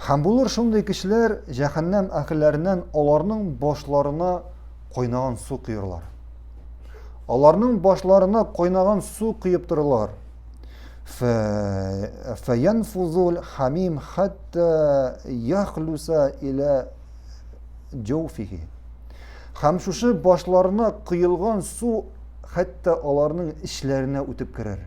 Һәм булыр шундый кешеләр җәһәннәм әһелләреннән аларның башларына кайнаган су коерлар. Аларның башларына кайнаган су коеп торылар. Фәянфузул хамим хәтта яхлуса илә җоуфихи. Һәм шушы башларына коелган су хәтта аларның эчләренә үтеп керер.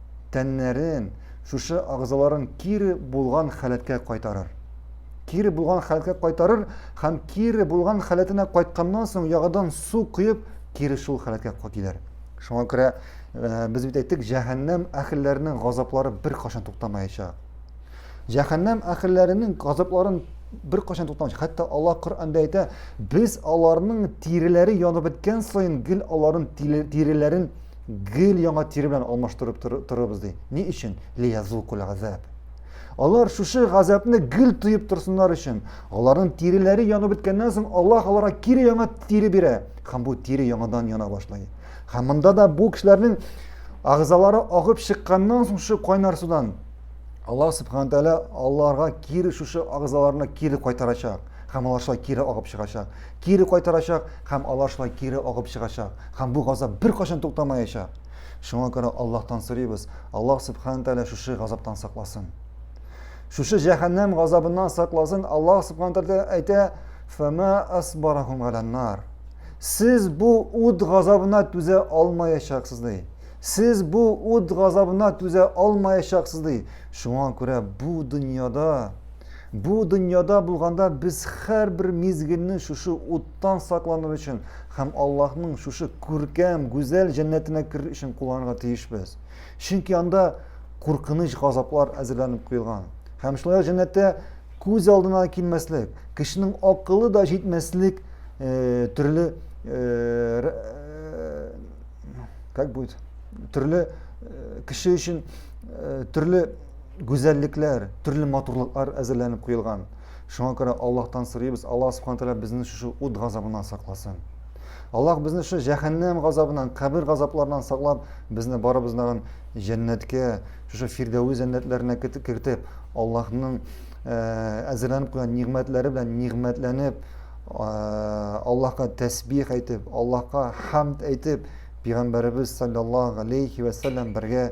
тәннәрен, шушы агзаларын кире булган халәткә кайтарыр. Кире булган халәткә кайтарыр һәм кире булган халәтенә кайтканнан соң ягыдан су коеп, кире шул халәткә килер. Шуңа күрә э, без бит әйттек, җәһәннәм әхелләренең газаплары бер кашан туктамаячак. Җәһәннәм әхелләренең газапларын бер кашан туктамаячак. Хәтта Аллаһ Коръәндә әйтә, без аларның тиреләре янып беткән саен гел аларның тиреләрен гел яңа тире белән алмаштырып торырбыз ди. Ни өчен? Лиязукул газаб. Алар шушы газапны гел тоеп торсыннар өчен, аларның тиреләре янып беткәннән соң Аллаһ аларга кире яңа тире бирә һәм бу тире яңадан яна башлый. Һәм монда да бу кешеләрнең агызалары агып чыкканнан соң шушы кайнар судан Аллаһ субхана тәгалә аларга кире шушы агызаларына кире кайтарачак һәм алар шулай кире агып чыгачак. кире кайтарачак һәм алар шулай кире агып чыгачак һәм бу газап беркайчан туктамаячак. Шуңа күрә Аллаһтан сорыйбыз, Аллаһ Субхана Тәгалә шушы газаптан сакласын. Шушы җәһәннәм газабыннан сакласын Аллаһ Субхана Тәгалә әйтә, "Фама асбарахум галаннар". Сез бу ут газабына түзә алмаячаксыз ди. Сез бу ут газабына түзә алмаячаксыз ди. Шуңа күрә бу дөньяда Бу дөньяда булганда без һәрбер мизгелне шушы уттан сакланыр өчен һәм Аллаһның шушы күркәм, гүзәл җәннәтенә керер өчен кулланырга тиешбез. Чөнки анда куркыныч газаплар әзерләнеп куелган. Һәм шулай җәннәттә күз алдына килмәслек, кешенең акылы да җитмәслек э, төрле э, э, как будет төрле кеше өчен төрле гүзәллекләр, төрле матурлыклар әзерләнеп куелган. Шуңа күрә Аллаһтан сорыйбыз, Аллаһ Субхану тәгалә безне шушы ут газабыннан сакласын. Аллаһ безне шушы җәһәннәм газабыннан, кабер газапларыннан саклап, безне барыбызны тагын җәннәткә, шушы фирдәве җәннәтләренә кертеп, Аллаһның э, әзерләнеп куйган нигъмәтләре белән нигъмәтләнеп, э, Аллаһка тәсбих әйтеп, Аллаһка хамд әйтеп, пәйгамбәребез саллаллаһу алейхи ва саллям бергә